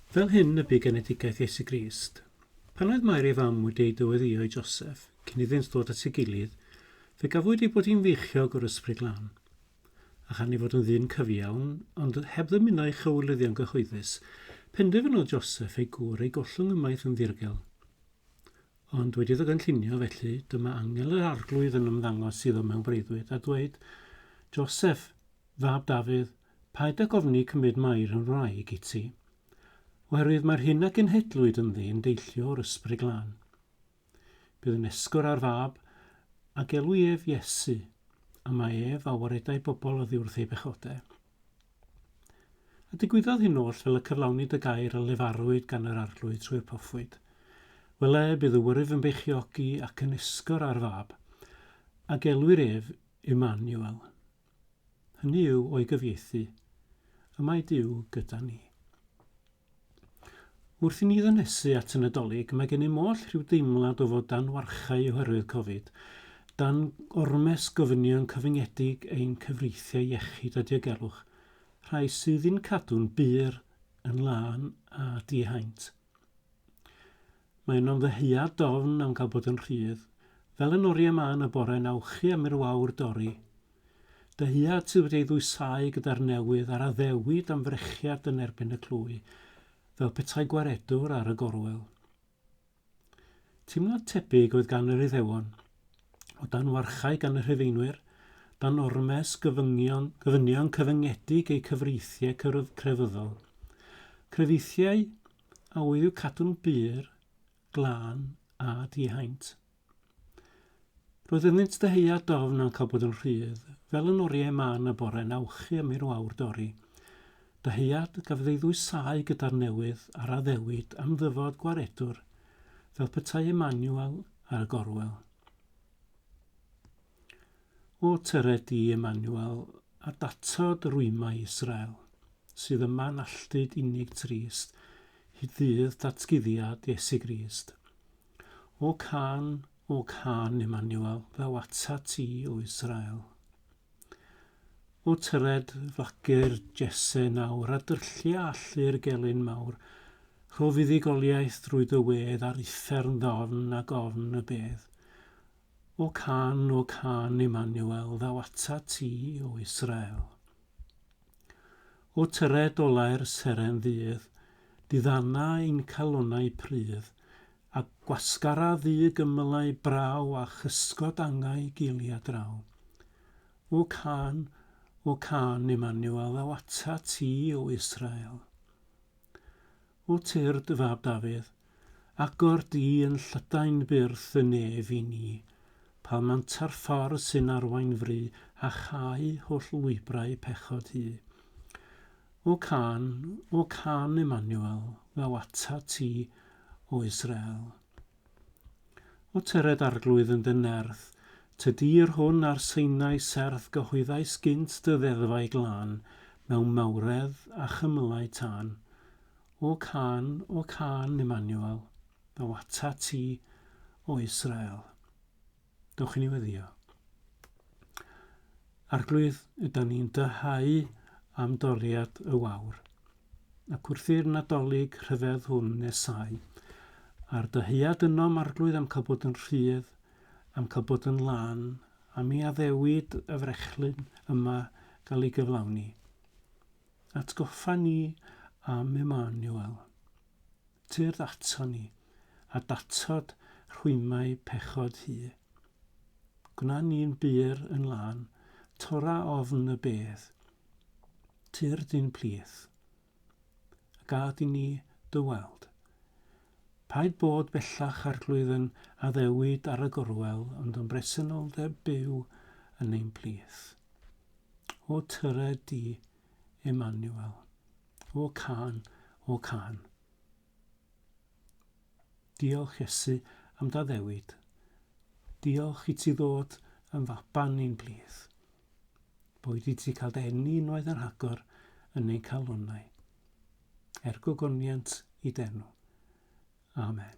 Fel hyn y bu genedigaeth Iesu Grist. Pan oedd Mair ei fam wedi ei dyweddïo i Joseph, cyn iddynt ddod at ei gilydd, fe gafwyd ei bod hi'n feichiog o'r Ysbryd Glân. A chan ei fod yn ddyn cyfiawn, ond heb ddymuno ei chywilyddion gyhoeddus, penderfynodd Joseph ei gŵr ei gollwng ymaith yn ddirgel. Ond wedi iddo gynllunio felly, dyma angel yr Arglwydd yn ymddangos iddo mewn breuddwyd, a dweud, Joseph, Fab Dafydd, paid ag ofni cymryd Mair yn wraig i ti. Oherwydd mae'r hyn a genhedlwyd ynddi yn deillio o'r Ysbryd Glân. Bydd yn esgor ar Fab, a gelwi ef Iesu, a mae ef a waredai bobl oddi wrth ei bechode. A digwyddodd hyn oll fel y cyflawnid y gair a lefarwyd gan yr Arglwydd trwy'r proffwyd. Wele, bydd y wyrf yn beichiogi ac yn esgor ar Fab, a gelwir ef Immanuel, Hynny yw o'i gyfieithu, Y mae Duw gyda ni. Wrth i ni ddynesu at y Nadolig, mae gennym oll rhyw deimlad o fod dan warchae oherwydd Covid, dan ormes gofynion cyfyngedig ein cyfreithiau iechyd a diogelwch, rhai sydd i'n cadw'n bur, yn lân a dihaint. Mae yno'n ddyhead dofn am cael bod yn rhydd, fel yn oriau ma yn y bore na wchi am i'r wawr dorri. Dyhead sydd wedi ei ddwysáu gyda'r newydd a'r addewid am frechiad yn erbyn y clwy, fel petai gwaredwr ar y gorwel. Teimlad tebyg oedd gan yr Iddewon. o dan warchae gan y Rhufeinwyr, dan ormes gyfyngion, gofynion cyfyngedig eu cyfreithiau crefyddol. Crefeithiau a oedd i'w cadw'n bur, glân a dihaint. Roedd ynddynt dyheia dofn a'n cael bod yn rhydd, fel yn oriau man y bore'n awchu am i'r wawr dorri. Dyheiad gafodd ei ddwysáu gyda'r newydd a'r addewid am ddyfod gwaredwr fel petai y manual ar y gorwel. O tyre di y manual a datod rwymau Israel, sydd yma'n alltud unig trist, hyd ddydd datguddiad Iesu Grist. O can, o can, Emmanuel, ddaw atat ti, o Israel. O tyred flacu'r jese nawr, a dyrllia allu'r gelyn mawr, rho fuddugoliaeth drwy dy wedd ar uffern ddofn ag ofn y bedd. O cân, o cân, Immanuel, ddaw atat ti, O Israel. O tyred olau'r seren ddydd, diddana ein calonnau prudd, A gwasgara ddu gymylau braw a chysgod angau giliau draw. O cân, O cân, Emanuel, ddaw atat ti, O Israel. O Tyr dy fab Dafydd, agor di yn llydain byrth y nef i ni, palmanta'r ffordd sy'n arwain fry, a chau holl lwybrau pechod hu. O cân, O cân Emmanuel, ddaw atat ti, O Israel. O tyred arglwydd yn dy nerth, Ty dir hwn ar Sinai serth Gyhoeddais gynt dy ddeddfau glân Mewn mawredd a chymylau tân. O cân, O cân Emmanuel, ddaw atat ti, O Israel. Dewch i ni weddio. Arglwydd, yda ni'n dyhau am doriad y wawr, ac wrth i'r Nadolig rhyfedd hwn nesau, a'r dyheuad ynom, Arglwydd, am cael bod yn rhydd, am cael bod yn lan, am i addewid y frechlyn yma gael ei gyflawni. Atgoffa ni am Emmanuel. Tyrd ato ni, a datod rhwymau pechod hu. Gwna ni'n bur yn lân, tora ofn y bedd. Tyrd i'n plith, a gad i ni dy weld. Paid bod bellach Arglwydd yn addewid ar y gorwel, ond yn bresenoldeb byw yn ein plith. O tyre di Emmanuel. O can, o can. Diolch Iesu am daddewid. Diolch i ti ddod yn faban ni'n blith. Boed i ti cael denu unwaith yn rhagor yn ein calonau. Er gogoniant i denw. Amen.